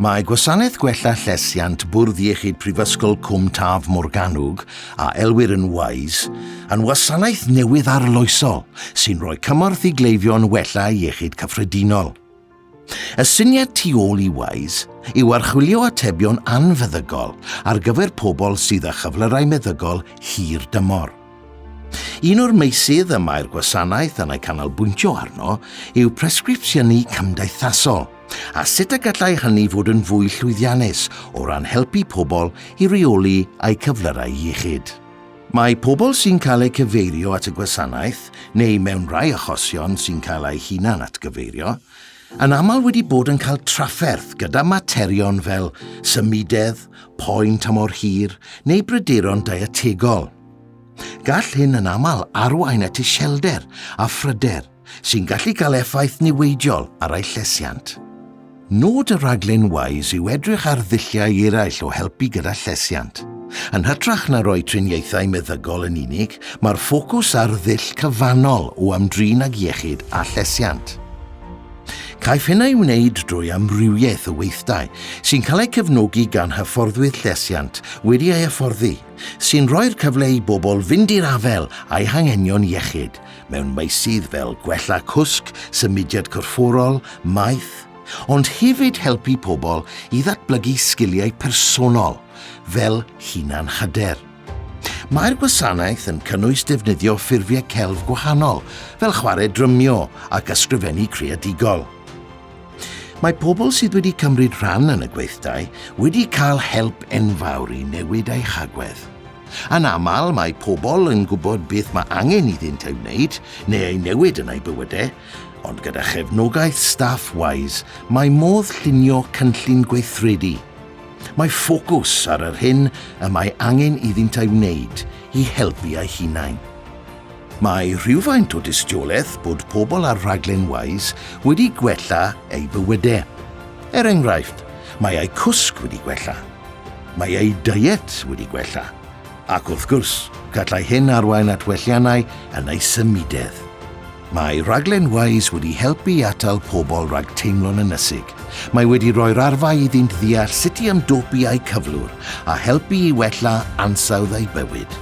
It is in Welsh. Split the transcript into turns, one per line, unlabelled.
Mae Gwasanaeth Gwella Llesiant Bwrdd Iechyd Prifysgol Cwm Taf Morgannwg, a elwir yn WISE, yn wasanaeth newydd arloesol sy'n rhoi cymorth i gleifion wella iechyd cyffredinol. Y syniad tu ôl i WISE yw archwilio atebion anfeddygol ar gyfer pobl sydd â chyflyrau meddygol hir dymor. Un o'r meysydd y mae'r gwasanaeth yn ei canolbwyntio arno yw presgripsiynu cymdeithasol, a sut y gallai hynny fod yn fwy llwyddiannus o ran helpu pobl i reoli eu cyflyrau iechyd. Mae pobl sy'n cael eu cyfeirio at y gwasanaeth, neu mewn rhai achosion sy'n cael eu hunan atgyfeirio, yn aml wedi bod yn cael trafferth gyda materion fel symudedd, poen tymor hir neu bryderon dietegol. Gall hyn yn aml arwain at iselder a phryder sy'n gallu cael effaith niweidiol ar eu llesiant. Nod y rhaglen WISE yw edrych ar ddulliau eraill o helpu gyda llesiant. Yn hytrach na roi triniaethau meddygol yn unig, mae'r ffocws ar ddull cyfannol o ymdrin ag iechyd a llesiant. Caiff hyn ei wneud drwy amrywiaeth o weithdai sy'n cael eu cefnogi gan hyfforddwydd llesiant wedi ei hyfforddi sy'n rhoi'r cyfle i bobl fynd i'r afael â'i hanghenion iechyd mewn meysydd fel gwella cwsg, symudiad corfforol, maeth, ond hefyd helpu pobl i ddatblygu sgiliau personol fel hunan-hyder. Mae'r gwasanaeth yn cynnwys defnyddio ffurfiau celf gwahanol, fel chwarae drymio ac ysgrifennu creadigol. Mae pobl sydd wedi cymryd rhan yn y gweithdai wedi cael help enfawr i newid eu hagwedd. Yn aml, mae pobl yn gwybod beth mae angen iddynt ei wneud neu ei newid yn eu bywydau, ond gyda chefnogaeth staff WISE, mae modd llunio cynllun gweithredu. Mae ffocws ar yr hyn y mae angen iddynt ei wneud i helpu eu hunain. Mae rhywfaint o dystiolaeth bod pobl ar raglen Wise wedi gwella eu bywydau. Er enghraifft, mae eu cwsg wedi gwella, mae eu diet wedi gwella, ac wrth gwrs, gallai hyn arwain at welliannau yn eu symudedd. Mae rhaglen Wise wedi helpu i atal pobl rhag teimlo'n ynysig. Mae wedi rhoi'r arfau iddynt ddeall sut i ymdopi â'u cyflwr a helpu i wella ansawdd eu bywyd.